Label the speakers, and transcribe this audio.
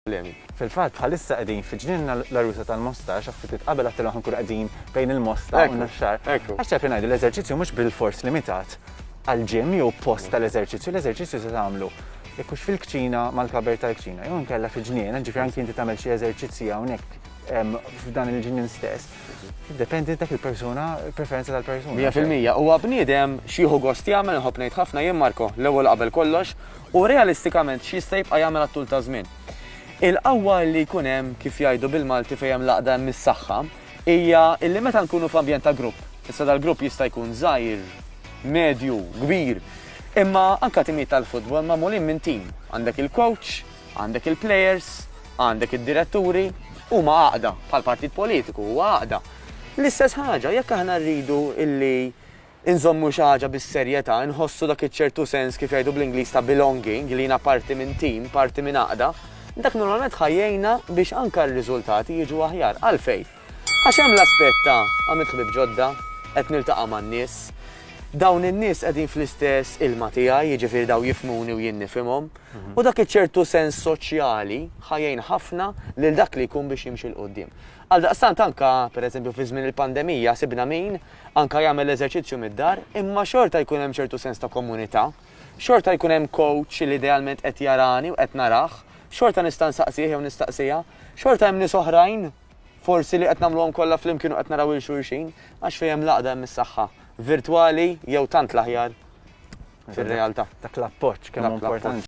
Speaker 1: problemi. Fil-fatt, bħalissa qegħdin fi ġnienna l-għarusa tal-mosta, xi ftit qabel għattilhom ħankunu qegħdin bejn il-mosta u n-naxxar. Għax taf li ngħidu l-eżerċizzju mhux bilfors limitat għall-ġim jew post tal-eżerċizzju, l-eżerċizzju se tagħmlu ikux fil-kċina mal-kaber tal-kċina, jew nkella fi ġniena, ġifier anki inti tagħmel xi eżerċizzji hawnhekk f'dan il-ġnien stess. Dependi dak il-persuna, preferenza tal-persuna. Mija fil-mija, huwa bniedem
Speaker 2: xieħu gost jagħmel nħobb ngħid ħafna jien Marko, l-ewwel qabel kollox, u realistikament x'jista' jibqa' jagħmel għat-tul ta' żmien. Il-qawwa li jkun hemm, kif jgħidu bil-Malti fejn hemm l-għaqda hemm is-saħħa, hija li meta nkunu f'ambjent ta' grupp, issa dal-grupp jista' jkun żgħir, medju, kbir, imma anke timijiet tal-futbol magħmulin minn tim, għandek il-coach, għandek il-players, għandek id-diretturi, huma għaqda, bħall-partit politiku huwa għaqda. L-istess ħaġa, jekk aħna rridu li Inżommu xi ħaġa bis-serjetà, inħossu dak iċ-ċertu sens kif jgħidu bl-Ingliż ta' belonging, li jiena parti minn tim, parti minn għaqda, dak normalment ħa jgħinna biex anke r-riżultati jiġu aħjar. Għalfejn? Għax hemm l-aspett ta' għamilt ħbieb ġodda, qed niltaqa' man-nies, dawn in-nies qegħdin fl-istess ilma tiegħi, jiġifieri dawn jifhmuni u jien nifhimhom, u dak iċ-ċertu sens soċjali ħa jgħin ħafna lil dak li jkun biex jimxi 'l quddiem. Għaldaqstant anke, pereżempju, fi żmien il-pandemija sibna min, anke jagħmel eżerċizzju mid-dar, imma xorta jkun hemm ċertu sens ta' komunità, xorta jkun hemm coach li idealment qed jarani u qed narah, xorta nista' nsaqsih jew nistaqsiha, xorta hemm nies oħrajn forsi li qed nagħmluhom kollha flimkien u qed naraw 'il xulxin, għax fejn hemm l-għaqda hemm is-saħħa, virtwali jew tant
Speaker 1: l-aħjar
Speaker 2: fir-realtà. Dak l-appoġġ
Speaker 1: kemm hu
Speaker 2: importanti.